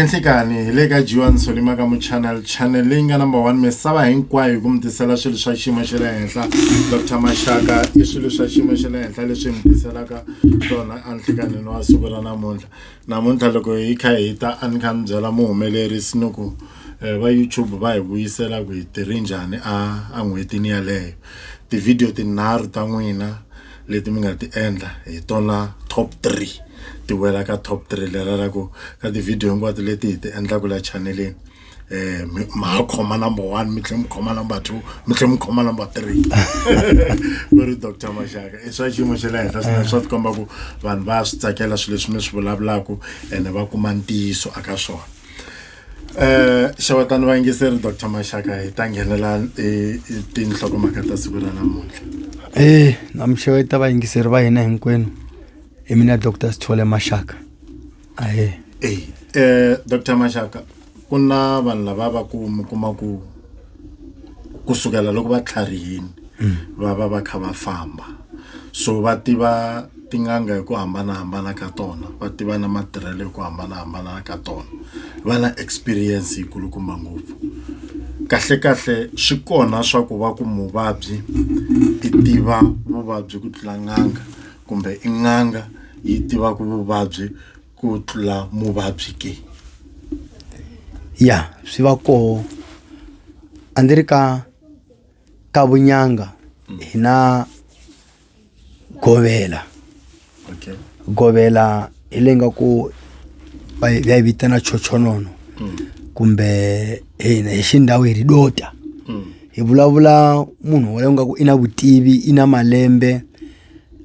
enhlikani hi le ka jiwan solima ka muchannel channel leyi nga number one misava hinkwayo hi ku mi tisela swilo swa xiyimo xa le henhla dr maxaka i swilo swa xiyimo xa le henhla leswi mi tiselaka tona enhlikanini wa siku ra namuntlha namuntlha loko hi kha hi ta a ni kha ni byela muhumelerisi ni ku Eh, va youtube va hi vuyisela ku hi tirhi njhani a a n'hwetini yaleyo tivhidiyo tinharhu ta n'wina leti mi nga ti endla hi tona top three ti wela ka top three lela la ku ka tivhidiyo hinkwato leti hi ti endlaka la chaneleni um ma khoma number one mi tlhe mi khoma number two mi tlhe mi khoma number three ku ri doctor maxaka i swa xiyimo xa le henhla swinene swa ti komba ku vanhu va swi tsakela swilo leswi mi swi vulavulaka ene va kuma ntiyiso aka swona xewetani vayingiseri doctor maxaka hi ta nghenela tinhlokomhaka ta siku ra namuntlha e na mixeweta vayingiseri va hina hinkwenu hi mina doctor sithole maxaka ahe e um doctor maxaka ku na vanhu lava va ku mi kuma ku kusukela loko va tlharihini mm. va va va kha va famba so va tiva tin'anga hi ku hambanahambana ka tona va tiva na matirhelo hi ku hambanahambana ka tona va na experience yi kulukumba ngopfu kahle kahle swi kona swa ku va ku muvabyi i tiva vuvabyi ku tlula n'anga kumbe i n'anga yi tivaka vuvabyi ku tlula muvabyi ke ya swi va koho a ndzi ri ka ka vunyanga hi na govela okay govela hi leyi nga ku va yi va yi vitana chochonono mm. kumbe hina hi xindhawu hi ri dota mm. hi vulavula munhu wolowo nga ku i na vutivi i na malembe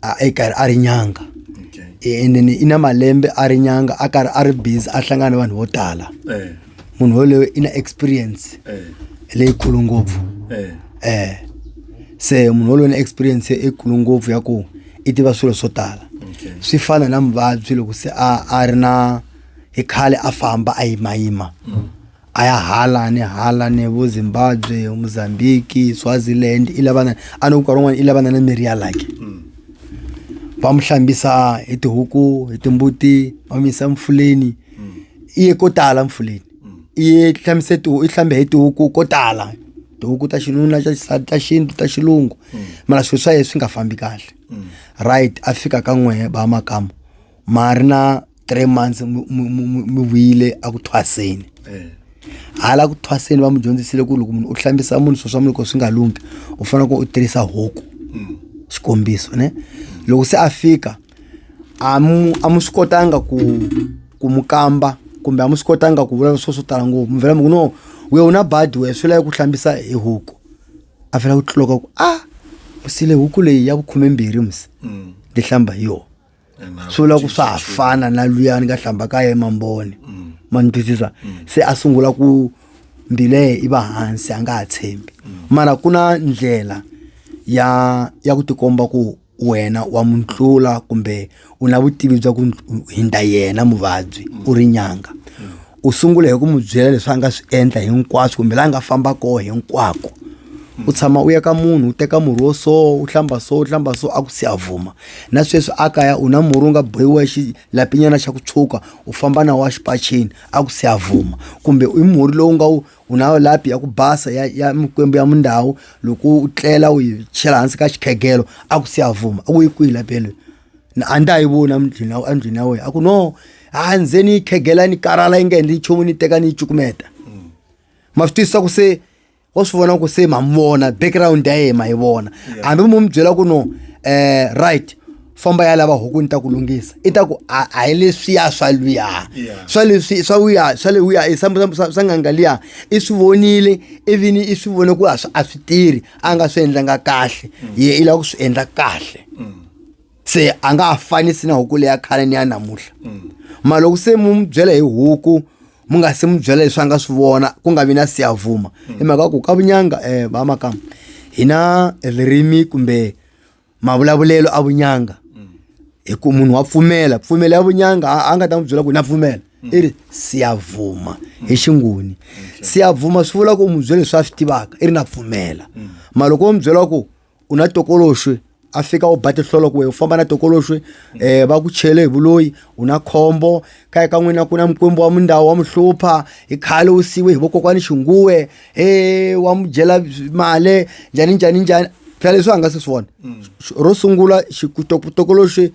a i karhi a ri nyanga okay. and then i na malembe a ri nyanga a karhi a ri busy a hlangana ni vanhu vo tala eh. munhu yoloyo i na experience eh. leyikulu ngopfu eh. eh. se munhu yoloyo na experience ekulu ngopfu ya ku i tiva swilo swo tala okay. swi fana na muvabyi loko se a a ri na hi khale a famba a yimayima mm. a ya hala ni hala ni vo zimbabwe mozambique swaziland i lavana a ni ku nkarhi wun'wana i lavana na mirhi ya laki mm. va mu hlambisa hi tihuku hi timbuti va mu yisa mfuleni mm. i ye ko tala mfuleni mm. i ye hlamise tihu i hlambe hi tihuku ko tala tihuku ta xinuna ta xisati ta xintu ta xilungu mara swilo swa ye swi nga fambi kahle right a fika ka n'wehe ba makama ma ri na three months mi- mi- mi- mi- mi vuyile a ku thwaseni hala ku thwaseni va mi dyondzisile ku loko munhu u hlambisa munhu swo swa munhu loko swi nga lunghi u fanele ku u tirhisa huku xikombiso ne loko se a fika a mu a mu swi kotanga ku ku mu kamba kumbe a mu swi kotanga ku vulavula swo swo tala ngopfu mi vhela mi ku no we u na badi we swi lava ku hlambisa hi huku a vhela ku tloka ku a u sile huku leyi ya vukhumembirhi msi ni hlamba hi yona swi vula ku swa ha fana na luyani ka hlamba ka ye mamboni mm. ma ni twisisa mm. se a sungula ku mbilehe i va hansi a nga ha tshembi mm. mara ku na ndlela ya ya ku tikomba ku wena wa mu tlula kumbe u na vutivi bya ku hindza yena muvabyi u ri nyanga u sungula hi ku mu byela leswi a nga swi endla hinkwaswo kumbe laha nga famba koho hinkwako u tshama u ya ka munhu u teka murhi wo so u hlamba so u hlamba so a ku si a vuma na sweswi a kaya u na murhi wu nga bohiwa xi lapinyana xa ku tshuka u famba na wa xipacheni a ku se a vuma kumbe i murhi lowu nga wu u na lapi ya ku basa ya ya mikwembu ya mindhawu loko u tlela u yi chela hansi ka xikhegelo a ku se a vuma a ku yi kwihi lapi yeleyo na a ndza yi vona mdlwini ya- endlwini ya wena a ku no a ndze ni yi khegela ni karhala yi nga endli nchumu ni teka ni yi cukumeta ma swi twisisa ku se wa swi vona ku se ma mi vona background ya yena ma yi vona hambi mu mi byela ku no um right famba ya lava huku ni ta ku lunghisa i ta ku a a hi leswiya swa luya Yeah. swa leswi swa wuya swa le wuya i swa- swa- swa swa nganga liya i swi vonile ivini i swi vone ku a swi a swi tirhi a nga swi endlanga kahle ye i lava ku swi endla kahle se a nga ha fanisi na huku leya khale ni ya namuntlha mara loko se mu n'wi byela hi huku mu nga se mu byela leswi a nga swi vona ku nga vi na siyavuma hi mhaka ku ka vunyanga um va makama hi na ririmi kumbe mavulavulelo a vunyanga hi ku munhu wa pfumela pfumela ya vunyanga a a nga ta n'wi byela ku na pfumela i ri siyavuma hi xinguni siyavuma swi vula ku u n'wi byela leswi a swi tivaka i ri na pfumela mara loko u n'wi byela ku u na tokoloxwe a fika u ba tihlolo ku we u famba na tokoloxwe um va ku chele hi vuloyi u na khombo kaya ka n'wina ku na mukwembu wa mundawu wa mu hlupha hi khale u siwe hi vokokwani xinguwe he wa mu dyela male njhani njhani njhani phela leswi a nga se swi vona ro sungula tokoloxwe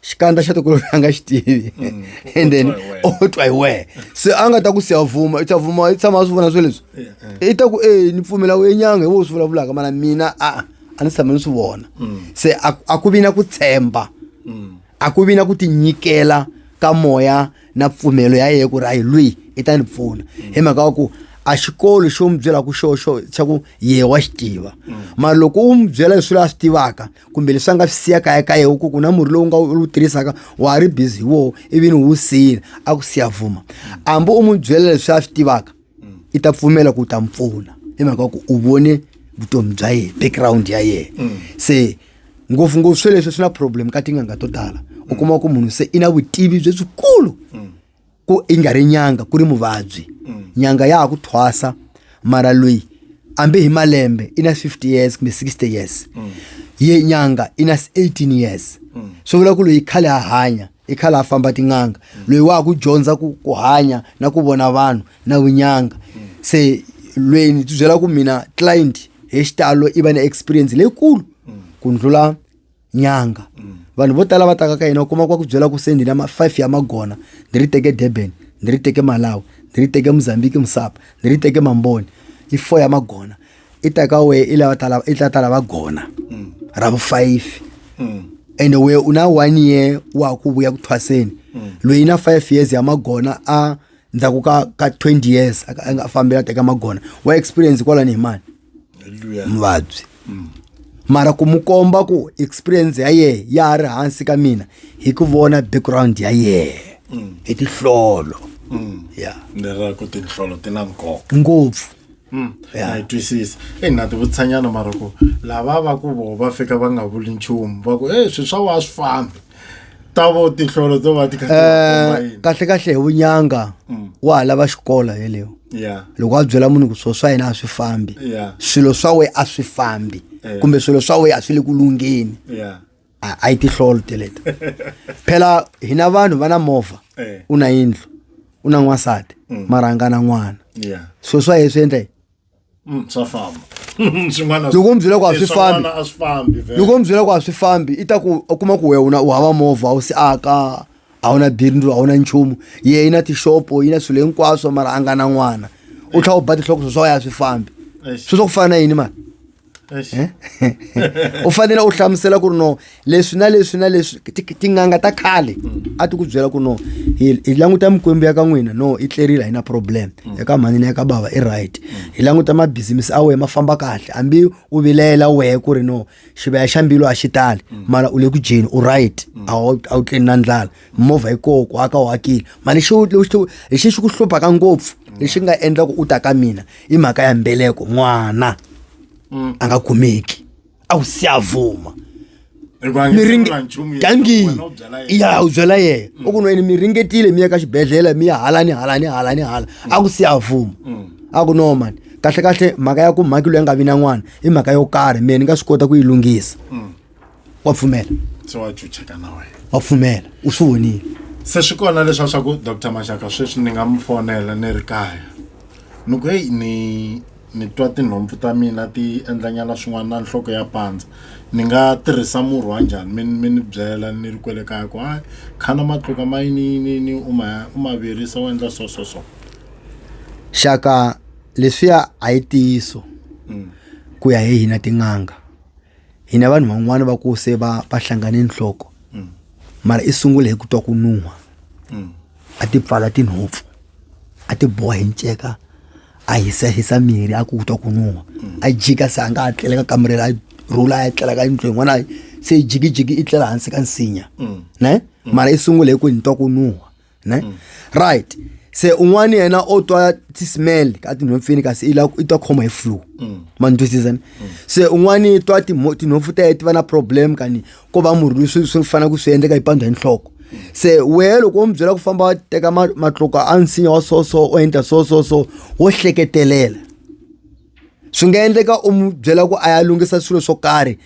xikandza xa tokolo a nga xi tivi mm. and then o oh, twa hi wehe se a nga ta ku siya vuma i ta vuma i tshama a swi vona swe leswi i ta ku e ni pfumela u enyanga hi wo swi vulavulaka mana mina a a ni tshama ni swi vona mm. se a ku vi na ku tshemba mm. a ku vi na ku tinyikela ka moya na pfumelo ya yeye ku ri a hi lweyi i ta ni pfuna hi mhaka wa ku a xikolo xo n'wi byelaka xoxo xa ku yehe wa xi tiva mara loko u n'wi byela leswi la swi tivaka kumbe leswi a nga swi siya kaya ka yehe ku ku na murhi lowu nga wu tirhisaka wa ha ri busy hi woho ivi ni wu siyile a ku siya vuma hambi u n'wi byela leswi a swi tivaka i ta pfumela ku u ta mi pfuna hi mhaka ku u vone vutomi bya yena background ya yena mm. se ngopfungopfu sweleswi swi na problem ka tin'anga to tala u kuma ku munhu se i na vutivi byi byikulu mm. ku i nga ri nyanga ku ri muvabyi nyanga ya ha ku thwasa mara loyi ambe hi malembe i na 50 years kumbe 60 years ye nyanga i na 18 years swi vula ku loyi khale a hanya i khale a famba tin'anga loyi wa ha ku dyondza ku ku hanya na ku vona vanhu na vunyanga se loyi ni ti byela ku mina client hi xitalo i va na experience leyikulu ku ndlula nyanga vanhu vo tala va taka ka yena u kuma kwa ku byela ku se ndzi na ma-five ya magona ndzi ri teke durban ndzi ri teke malawi ndzi ri teke mozambique musapa ndzi ri teke mamboni i four ya magona i ta ka wehe i lava tala i ta tala va gona ra vu-five ende wehe u na one year wa ha ku vuya ku thwaseni loyi na five years ya magona a ndzhaku ka ka twenty years a ka- a nga fambela teka magona wa experience kwalani hi mani muvabyi mm. mara ku mu komba ku experience ya yehe ya ha ri hansi ka mina hi ku vona background ya yehe mm. hi tinhlolo mm. ya leraku tinhlolo ti na nkoka ngopfu Mm. ya twisisa e na ti vutshanyana mara ku lava va ku vo va fika va nga vuli nchumu va ku e swi swa wa swi fambi ta vo tinhlolo to va ti kha ti va komba Eh, yini? kahle kahle hi vunyanga Mm. wa ha lava xikolo yeleyo Yeah, loko a byela munhu ku swilo swa yena a swi fambi yeah, swilo swa we a swi fambi Eh. kumbe swilo swa we a swi le ku lungheni yeah. a a yi tihlolo teleto phela hina vanhu va na movha Eh, u na yindlu u na n'wansati mara a nga na n'wana yeah. swilo swa ye swi endla yini? Mm, swa famba swin'wana loko mi byela ku a swi fambi swin'wana a swi fambi vele. loko mi byela ku a swi fambi i ta ku u kuma ku wena u hava movha u si aka a wu na bindzu a wu na nchumu ye yi na tixopo yi na swilo hinkwaswo mara a nga na n'wana u tlhela u ba tihloko swo swa wena a swi fambi Eish. swi swa ku fana na yini mani Eh? u fanele u hlamusela ku ri no leswi na leswi na leswi tin'anga ta khale a ti ku byela ku no hi languta mikwembu ya ka n'wina no i tlerile a yi na problem ya ka mhani na ya ka bava i right hi languta mabizimisi a wehe ma famba kahle hambi u vilela wehe ku ri no xivaya xa mbilu a xi tali mara u le ku dyeni u right a wu tleni na ndlala movha yi koho ku aka u akile mali xi hi xi xi ku hluphaka ngopfu lexi nga endla ku u ta ka mina i mhaka ya mbeleko n'wana mm. a nga kumeki a wu si a vuma gangi ya u byela yena mm. u ku nweni mi ringetile mi ya ka xibedhlele mi ya hala ni hala ni hala ni hala mm. a ku si a vuma a ku no mani kahlekahle mhaka ya ku mhakilo ya nga vi na n'wana i mhaka yo karhi mina ni nga swi kota ku yi lunghisa wa pfumela se wa chucheka na wena wa pfumela u swi vonile se swi kona leswa swa ku dr maxaka sweswi ni nga mi fonela ni ri kaya ni ku heyi ni ni twa tinhompfu ta mina ti endlanyana swin'wana na nhloko ya pandza ni nga tirhisa murhi wa njhani mi mi ni byela ni ri kwele kaya ku hayi khana matluka ma yiniyiniyini u ma u ma virisa u endla so so so xaka leswiya a yi tiyiso ku ya hi hina tin'anga hi na vanhu van'wana va ku se va va hlangane nhloko mm. mara i sungule hi ku twa ku nuha mm. a ti pfala tinhopfu a ti boha hi nceka a hisa hisa mirhi a ku twa ku nuha mm. a jika se a nga ha tlela ka kamere a rhula a tlela ka yindlu yin'wana se jikijiki i tlela hansi ka nsinya ne mara i sungule hi ku ni twa ku nuha ne mm. right se un'wana yena o twa ti-smell ka tinhompfini kasi i la i twa khoma hi flu mm. ma ni twisisa ni mm. se un'wana i twa tinhompfu ta ye ti va na problem kani ko va murhi loyi swi swi fanele ku swi endleka yi pandza hi nhloko se wehe loko wo mi byela ku famba wa teka matloko a nsinya wa so so o endla so so so wo hleketelela swi nga endleka u mu byela ku a ya lunghisa swilo swo karhi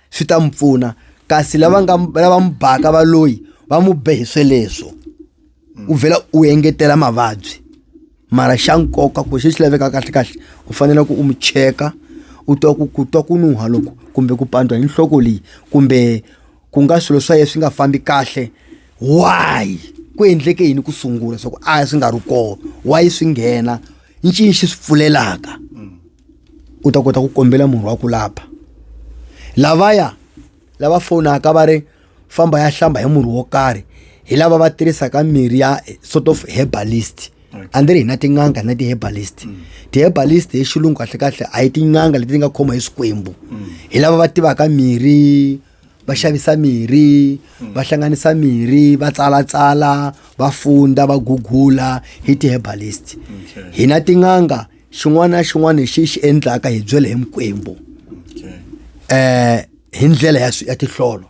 swi ta n'wi pfuna kasi lava nga lava n'wi baka va loyi va n'wi be hi sweleswo mm. u vhela u engetela mavabyi mara xa nkoka ku xi xi laveka kahle kahle u fanele ku u n'wi cheka u twa ku ku twa ku nuha loko kumbe ku pandwa hi nhloko leyi kumbe ku nga swilo swa yena swi nga fambi kahle why ku endleke yini ku sungula swa ku a swi nga ri kona why swi nghena ncini xi swi pfulelaka mm. u ta kota ku kombela munhu wa ku lava lavaya lava fonaka va ri famba ya hlamba hi murhi wo karhi hi lava va tirhisaka mirhi ya sort of herbalist a ndzi ri hi na tin'anga na ti-herbalist mm. ti-herbalist hi xilungu kahlekahle a hi tin'anga leti ti nga khoma hi swikwembu mm. hi lava va tivaka mirhi va xavisa mirhi mm. va hlanganisa mirhi va tsalatsala va funda va gugula hi ti-herbalist hi na tin'anga xin'wana na xin'wana lexi xi endlaka hi byele hi mikwembu eh hi ndlela ya ya tihlolo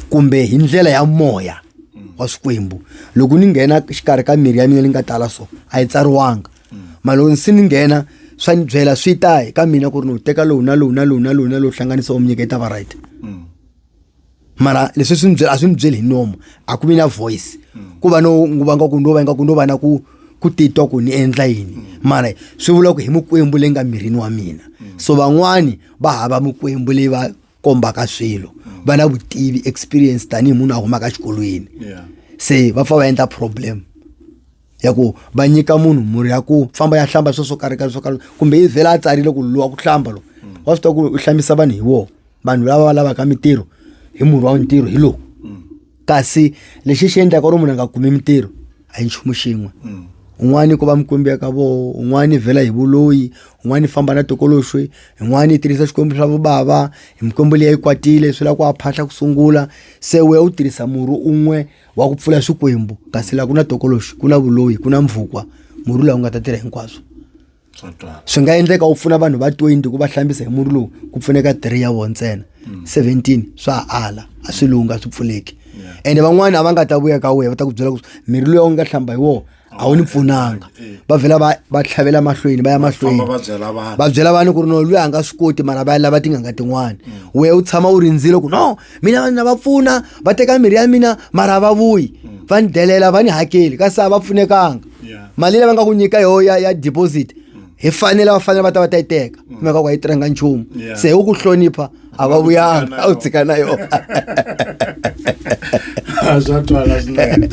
kumbe hi ndlela ya moya wa swikwembu loko ni nghena xikarhi ka miri ya mina ni nga tala so a yi tsariwanga mara loko se ni nghena swa ni byela swi ta hi ka mina ku ri ni wu teka lowu na lowu na lowu na lowu na lowu hlanganisa u mi nyiketa va right mara leswi swi ni byela a swi ni byeli hi nomu a ku vi na voice ku va no nguva nga ku no va nga ku no va na ku ku titwa ku ni endla yini mara swi vula ku hi mukwembu leyi nga mirini wa mina so van'wani va hava mukwembu leyi va kombaka swilo va na vutivi experience tanihi munhu a humaka exikolweni Yeah. se va pfa va endla problem ya ku va nyika munhu murhi ya ku famba ya hlamba sweswo karika swo karhi kumbe yi vhela a tsarile ku luwa ku hlamba lo mm. wa swi tiva ku u hlambisa vanhu hi wona vanhu lava va lavaka mintirho hi murhi wa ntirho hi lowu mm. kasi lexi xi endlaka ri munhu a nga kumi mintirho a hi nchumu xin'we mm. un'wana ku va mikwembu ya ka voho un'wana vhela hi vuloyi un'wana famba na tokoloxwe un'wana tirhisa xikwembu swa vobava hi mikwembu leyi yi kwatile swi lava ku a phahla ku sungula se we u tirhisa murhi un'we wa ku pfula swikwembu kasi laha ku na tokoloxi ku na vuloyi ku na mvukwa murhi lowu nga ta tirha hinkwaswo swi nga endleka u pfuna vanhu va 20 ku va hlambisa hi murhi lowu ku pfuneka 3 ya vona ntsena 17 hmm. swa ala a swi lungha swi pfuleki ende van'wana a va nga ta vuya ka wena va ta ku byela ku mirhi loyi u nga hlamba hi wona a wu ni pfunanga va vhela va va tlhavela mahlweni va ya mahlweni va byela vanhu ku ri no luyi a nga swi koti mara va ya lava tin'anga tin'wana mm. we u tshama u rindzile ku no mina vanhu na va pfuna va teka mirhi ya mina mara va vuyi mm. va ni delela va ni hakeli kasi a va pfunekanga mali leyi va nga ku nyika yoho ya ya deposit mm. hi fanele va fanele va ta va ta yi teka kumeka ku a yi tirhanga nchumu se hi ku hlonipha a va vuyanga a wu tshika na yona a swa twala swinene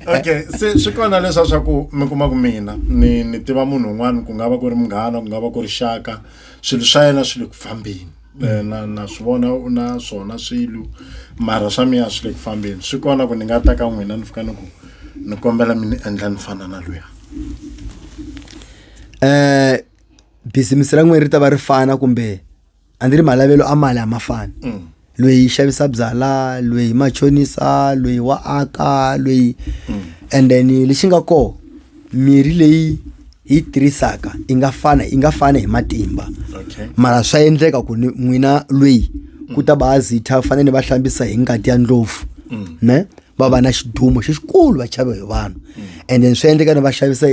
okay se swi kona leswa swa ku mi kuma ku mina ni ni tiva munhu un'wana ku nga va ku ri munghana ku nga va ku ri xaka swilo swa yena swi le ku fambeni eh, na na swi vona u na swona swilo mara swa miya swi le ku fambeni swi kona ku ni nga ta ka n'wina ni fika ni ku ni kombela mi ni endla ni fana na luya um bizimisi ra n'wina ri ta va ri fana kumbe a ndzi ri malavelo a mali a ma fani mm. lweyi xavisa byala lweyi machonisa lweyi wa aka lweyi mm. and then lexi nga kona mirhi leyi yi tirhisaka yi nga fana yi nga fana hi matimba okay. mara swa endleka ku ni n'wina lweyi mm. ku ta baazitha fanele ni va hlambisa hi ngati ya ndlopfu mm. ne va va na xidumo xi xikulu va chava hi vanhu mm. and then swi endleka ni va xavisa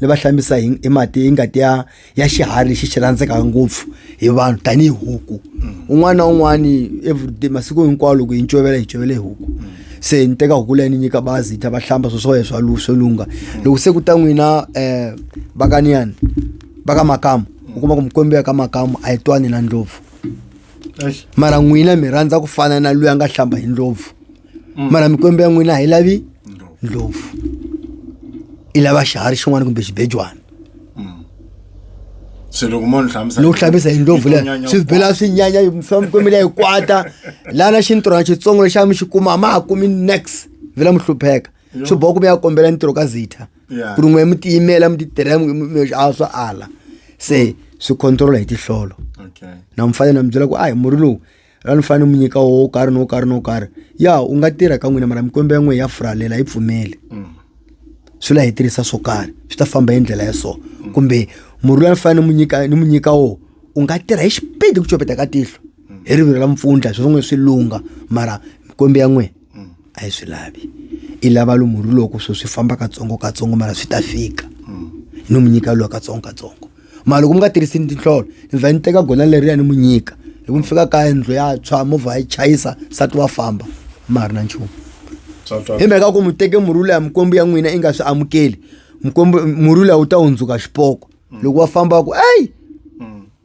ni va hlambisa hi mati yi ngati ya ya xiharhi lexi xi rhandzekaka ngopfu hi vanhu tanihi huku un'wana na un'wana everyday masiku hinkwawo loko hi ncovela hi ncovela hi huku se ni teka huku leyi ni nyika bazi hi ta va hlamba swo swa swa lu swo lungha loko se ku ta n'wina eh vakaniyani va ka makamu u kuma ku mikwembu ya ka makamu a yi twani na ndlopfu mara n'wina mi rhandza ku fana na loyi a nga hlamba hi ndlopfu mara mikwembu ya n'wina a yi lavi ndlopfu i lava xiharhi xin'wana kumbe xibejwana se loko mo ni hlamusela lowu hlambisa hi ndlopfu leyi Nyanya swi bela swi nyanya misava mikwembu leyi kwata lana xintirhwana xitsongo lexi a mi xi kuma a ma ha kumi nex vhela mi hlupheka swi boha ku mi ya kombela ntirho ka zitha Yeah. ku ri n'we mi tiyimela mi titirhela mi- mi- mi- a swa ala se swi controla hi tihlolo okay na mfanele na mi byela ku a hi murhi lowu ra ni fanele mi nyika wo karhi no karhi no karhi ya u nga tirha ka n'wina mara mikwembo ya n'we ya furalela yi pfumeli swi la hi tirhisa swo karhi swi ta famba hi ndlela ya so kumbe murhi loyi ni fanele mu nyika ni mu nyika wo u nga tirha hi xipidi ku copeta ka tihlo hi rivilo ra mpfundla swi swi n'we swi lungha mara mikwembo ya n'we a yi swi lavi i lava lomu ri loko swo swi famba katsongo katsongo mara swi ta fika ni n'wi nyika lowa katsongo katsongo mara loko mi nga tirhisi ni tinhlolo ni vhe ni teka gona leriya ni n'wi nyika loko mi fika kaya ndlo ya tshwa movha ya yi chayisa nsati wa famba ma ha ri na nchumu hi mhaka ku mi teke murhi leya mikwembu ya n'wina i nga swi amukeli mikwembu murhi leyi wu ta hundzuka xipoko loko wa famba ku eyi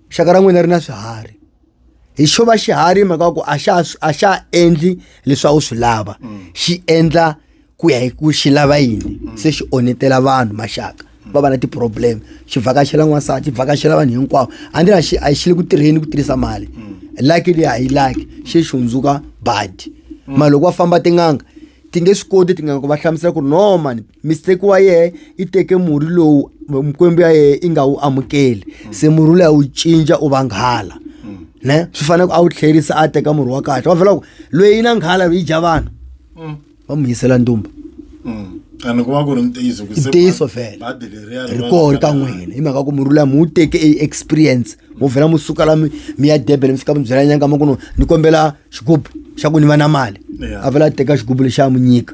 xaka ra n'wina ri na swiharhi hi xo va xiharhi mhaka ku a xa a xa endli leswi a wu swi lava xi endla ku ya hi ku xi lava yini se xi onhetela vanhu maxaka va va na ti-problem xi vhakachela n'wansati xi vhakachela vanhu hinkwavo a ndzi na xi a xi le ku tirheni ku tirhisa mali laki leyi a yi laki xi xi hundzuka badi mara loko va famba tin'anga ti nge swi koti tin'anga ku va hlamusela ku ri no mani mistake wa yehe i teke murhi lowu mikwembu ya yehe i nga wu amukeli se murhi wu leya wu cinca u vanghala ne swi fanele ku a wu tlherisa a teka murhi wa kahle wa vhela ku loyi na nghala yi dya vanhu Mm. va mu yisela ndumba Mm. and ku va ku ri ntiyiso ku se ntiyiso ba- vhele badi leriya ri ri va- koho ri ka n'wina hi mhaka ku murhi luya mi wu teke e experience mu vhela mu suka la mi mi ya durban mi fika mi byela nyanga ma ku no ni kombela xigubu xa ku ni va na mali Yeah. a vhela a teka xigubu lexi a mu nyika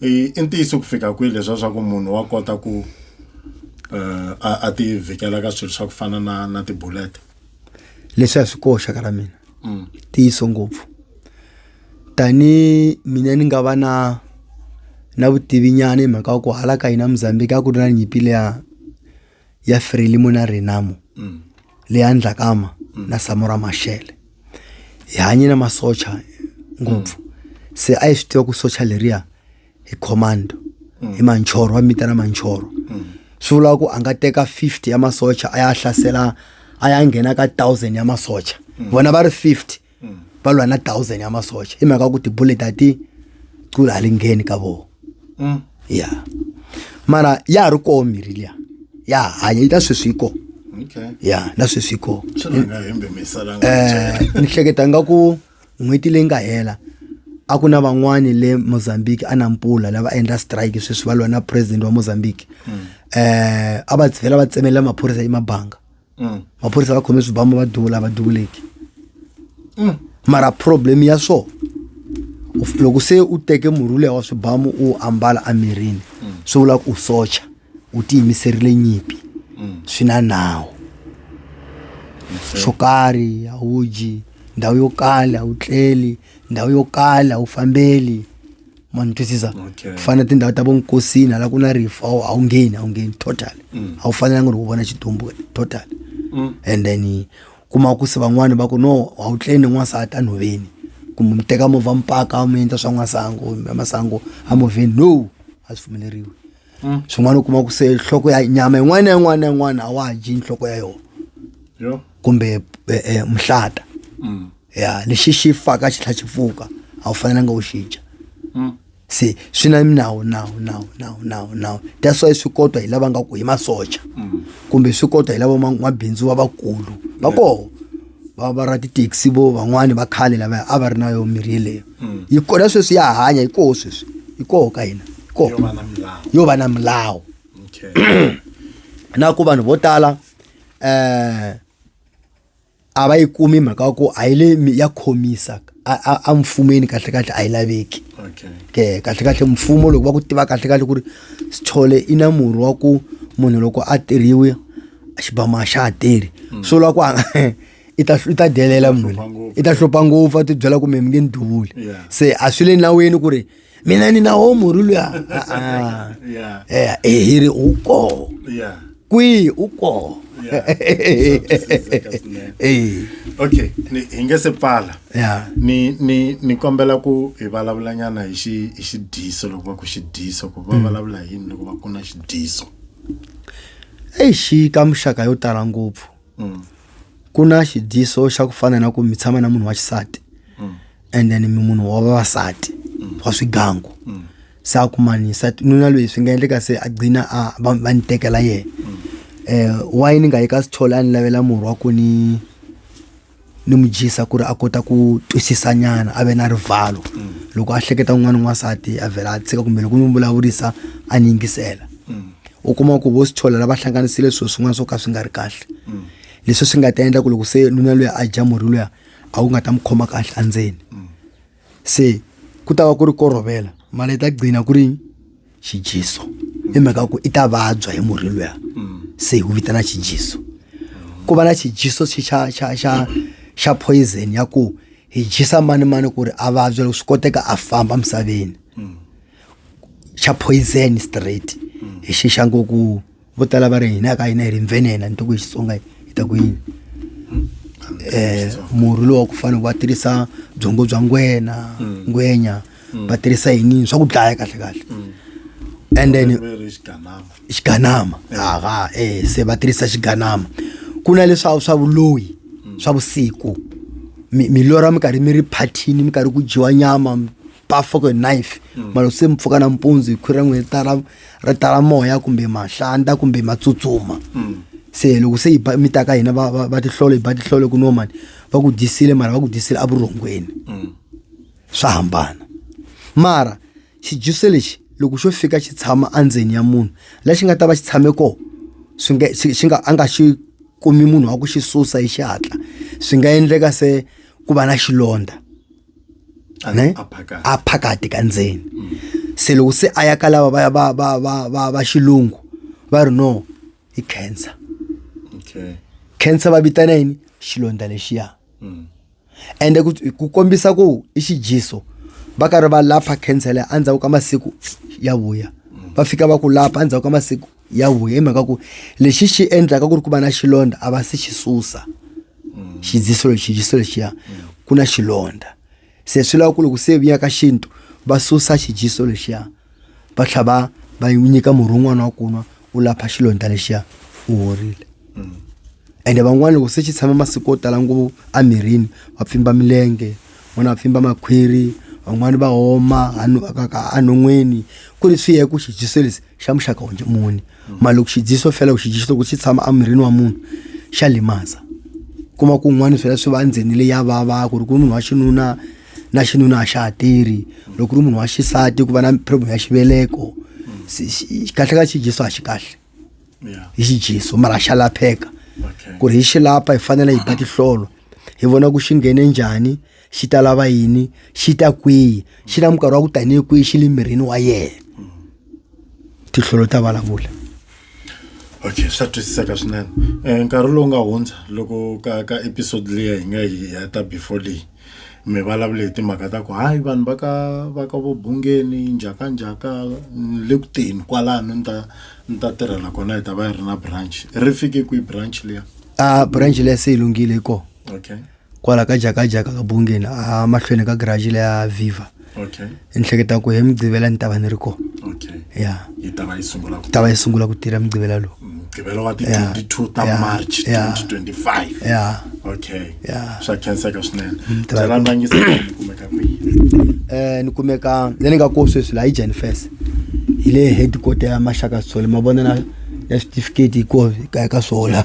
i i ntiyiso ku fika kwihi leswa swa ku munhu wa kota ku uh, a, a ti vhikela ka swilo swa ku fana na, na tibulete leswi a swi koxa ka ra mina mm. tiyiso ngopfu tani mina ni nga va na na vutivi nyana hi mhaka wa ku hala ka hina mozambique a ku ri na nyimpi leya ya Frelimo na Renamo mm. le ya Ndlakama mm. na Samora Machel hi hanye na masocha ngopfu mm. se a hi swi tiva ku socha leriya hi commando mm. hi manchoro va mitana manchoro mm. swi vula ku a nga teka 50 ya masocha a ya hlasela a ya nghena ka 1000 ya masocha mm. vona va ri 50 mm. va lwa na thousand ya masocha hi mhaka ku tibullet a ti cula hali ngheni ka vona mm. ya mara ya ha ri koho mirhi liya ya hanya yi ta sweswi yi koho ya na sweswi ko eh, ni hleketa nga ku n'hweti leyi nga hela a ku na van'wani le mozambique a na mpula lava endla strike sweswi va lwa na president wa mozambique um a va vhela va tsemelela maphorisa emabanga mm. maphorisa va khome swibambo va duvula va duvuleki mm. mara problem ya swo loko se u teke murhi leya wa swibamu u ambala emirini mm. swi vula ku u socha u tiyimiserile nyimpi swi na nawu swo karhi a wu dyi ndhawu yo kala a wu tleli ndhawu yo kala a wu fambeli ma ni twisisa Okay. ku fana na tindhawu ta vonkosini hala ku na rifu a wu- a wu ngheni a wu ngheni total Mm. a wu fanelanga ri ku vona xitumbu total Mm. and then kuma ku se van'wani va ku no a wu tleni n'wansati enhoveni kumbe mi teka movha mpaka mi endla swa n'wasango masango a movheni no a swi pfumeleriwi Mm. swin'wana u kuma ku se nhloko ya nyama yin'wana na yin'wana na yin'wana a wa ha dyi nhloko ya yona yo kumbe eh, eh, mhlata Mm. ya lexi xi faka xi tlha xi pfuka a wu fanelanga u xi dya Mm. se swi na minawu nawu nawu nawu nawu nawu that's why swi kotwa hi lava nga ku hi masocha Mm. kumbe swi kotwa hi lava ma- mabindzu va vakulu va koho va va ra tithekisi vo van'wani va khale lavaya a va ri na yona mirhi yeleyo hmm. yi kona sweswi ya hanya hi koho sweswi hi koho ka hina hi koho yo va na milawu na ku vanhu vo tala um a va yi kumi mhaka ya ku a yi le ya khomisa a mfumeni kahle kahle a yi laveki ke kahle kahle mfumo loko va ku tiva kahle kahle ku ri sithole i na murhi wa ku munhu loko a tirhiwe xibamu a xa ha tirhi mm. swo lwa ku i ta i ta delela munhu i ta hlupha ngopfu a tibyela kumbe mi nge ni duvuli se a swi le naweni ku ri mina ni na wo murhi luya eh, eh, hi ri u koho kwihi u koho eh. okay hi nge se pfala ni ni ni kombela ku hi vulavulanyana hi xi hi xidyiso loko va ku xidyiso ku va mm. vulavula hi yini loko va ku na xidyiso Eish ka muxaka yo tala ngopfu ku na xidyiso xa ku fana na ku mi tshama na munhu wa xisati and then mi munhu wa vavasati wa swigangu se a kumanisa nuna loyi swi nga endleka se a gcina a va va ni tekela yena um why ni nga yi ka sithole a ni lavela murhi wa ku ni ni mu dyisa ku ri a kota ku twisisa nyana a ve na rivalo mm. loko a hleketa un'wana n'wansati a vhela a tshika kumbe loko mi vulavurisa a ni yingisela mm. u kuma ku vo sithola lava hlanganisile swilo swin'wana swo ka swi nga ri kahle mm. leswi swi nga ta endla ku loko se nuna loyi a dya murhi luya a wu nga ta mu khoma kahle endzeni se ku ta va ku ri ko rovela mara yi ta gcina ku ri xijiso hi mhaka ku i ta vabya hi murhi luya se hi wu vitana xijiso ku va na xijiso xi xa xa xa xa poison ya ku hi jisa mani mani ku ri a vabya loko swi koteka a famba misaveni xa poison straight hi xixa ngoku vo tala va ri hina a ka hina hi ri nvenena ni to ku hi xitsonga hi ta ku yini um murhi lowu wa ku fanele va tirhisa byongo bya ngwena mm. ngwenya mm. va tirhisa yinini swa ku dlaya kahle kahle mm. and then xiganama haa e se va tirhisa xiganama ku na leswa swa vuloyi swa vusiku milora mi karhi mi ri phathini mi karhi ku dyiwa nyama pafoko hi knife mm. mara se mi pfuka nampundzu hi khwira n'hweti tara ri tala moya kumbe mahlanta kumbe ma tsutsuma mm. se loko se mi ta ka hina va tihlolo hi ba tihlolo ku nomani va ku dyisile mara va ku dyisile evurhongweni mm. swa hambana mara xijuso lexi loko xo fika xi tshama endzeni ya munhu lexi nga ta va xi tshame kona swi nga xi nga a nga xi kumi munhu wa ku xi susa hi xihatla swi nga endleka se ku va na xilondza ne a phakati ka ndzeni mm. se loko se a ya ka lava va va va va va va xilungu va ri no i cancer okay cancer va vitana yini xilondza lexiya mm. ende ku kombisa ku i xijiso va karhi va lapha cancer leyi endzhaku ka masiku ya vuya mm. va fika va ku lapha endzhaku ka masiku ya huya hi mhaka ku lexi xi endlaka ku ri ku va na xilondza a va se xi susa xidziso lexi xidziso lexiya ku na xilondza se swi lava ku loko se vuya ka xintu va susa xidziso lexiya va tlha va va yi nyika murhi wun'wana wa kunwa u lapha xilondza lexiya u horile ende van'wana loko se xi tshame masiku yo tala ngopfu emirini va pfimba milenge van'wana va pfimba makhwiri van'wani va homa a nu- ka- ka- enon'wini ku ri swi ya hi ku xijiso lexi xa muxaka onje muni mara loko xi dyiso fela ku xi dyiso ku xi tshama emirini wa munhu xa limaza kuma ku un'wana swela swi va ndzeni leyi ya vava ku ri ku munhu wa xinuna na xinuna a xa ha tirhi loko ri munhu wa xisati ku va na problem ya xiveleko kahle ka xidyiso a xi kahle hi xidyiso mara xa lapheka ku ri hi xi lapha hi fanele hi ba tihlolo hi vona ku xi nghene njhani xi ta lava yini xi ta kwihi xi na minkarhi wa ku tanihi kwihi xi le mirini wa yena tihlolo ta vulavula okay swa twisiseka swinene um nkarhi lowu nga hundza loko ka ka episode leyi hi nga yi heta before leyi mi vulavule hi timhaka ta ku hayi vanhu va ka va ka vobungeni njhakanjhaka le ku teni kwalano ni ta ni ta tirhela kona hi ta va yi ri na branch ri fike kwihi branch leya a ah, branch leya se yi lunghile yi kona okay kwala ka jakajaka ka bungeni a mahlweni ka garaji leya viva okay ni hleketa ku hi mugqivela ni ta va ni ri kona okay ya yi ta va yi sungula ku ta va yi sungula ku tirha mugqivela lowu mugqivela wa Yeah. ti-22 ta Yeah. march Yeah. 2025 ya okay Yeah. swa khenseka swinene Mm, ta va- byela ndangisa ni kumeka kwihi um ni kumeka le ni nga ko sweswi laha yi jenifes hi le headquarter ya maxaka sole ma vona na ya switifiketi hi ko ka ka swola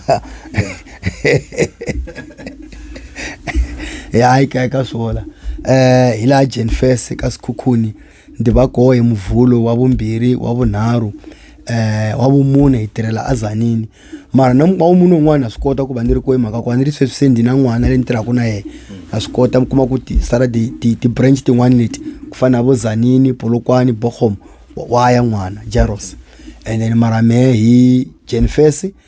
ya hayi ka ka swola eh hi laha Jane Fest ka Sikhukhuni ndi va koho hi muvulo wa vumbirhi wa vunharhu eh wa vumune hi tirhela azanini mara na wa munhu un'wana swi kota ku va ni ri kohi mhaka ku ni ri sweswi se ndi na n'wana le ni tirhaka na yena na swi kota mi kuma ku ti sala ti ti ti branch tin'wana leti ku fana na vo zanini polokwane bogomo wa ya n'wana jaros and then mara me hi Jane Fest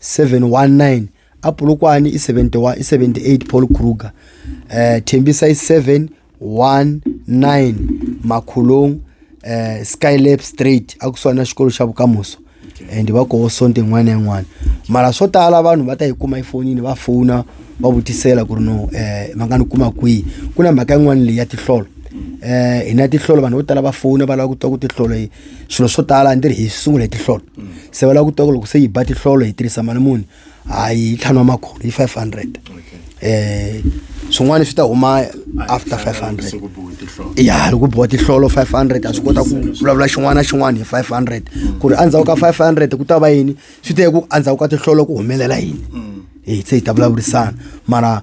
719 apulukwane i-71 i-78 paul kruger eh thembisa i-719 makhulong eh skylab straight akusona xikolo xa vukamuso and va koho sonto yin'wana na yin'wana mara swo tala vanhu va ta yi kuma efonini va fona va vutisela ku ri no eh va nga ni kuma kwihi ku na mhaka yin'wana leyi ya tihlolo eh hi na tihlolo vanhu vo tala va fona va lava ku twa ku tihlolo swilo swo tala a ni ri hi sungule hi tihlolo se va lava ku twa loko se yi ba tihlolo hi tirhisa mali muni hayi ntlhanu wa makhulu yi five hundred um swin'wana swi ta huma after five hundred ya loko boha tihlolo five hundred a swi kota ku vulavula xin'wana na xin'wana hi five hundred ku ri endzhaku ka five hundred ku ta va yini swi teye ku endzhaku ka tihlolo ku humelela yini hi se hi ta vulavurisana mara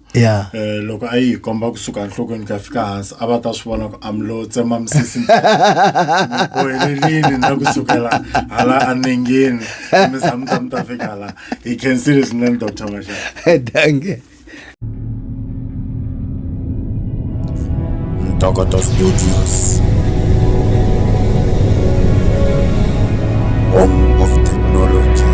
ya Eh, loko a yi hi komba kusuka enhlokweni ku ya fika hansi a va ta swi vona ku amlo tsema misisi ni bohelelini na kusukela hala anengeni mi za mi ta mi ta fika hala hi khensile swinene dr maxaka danke ntokoto studios home of technology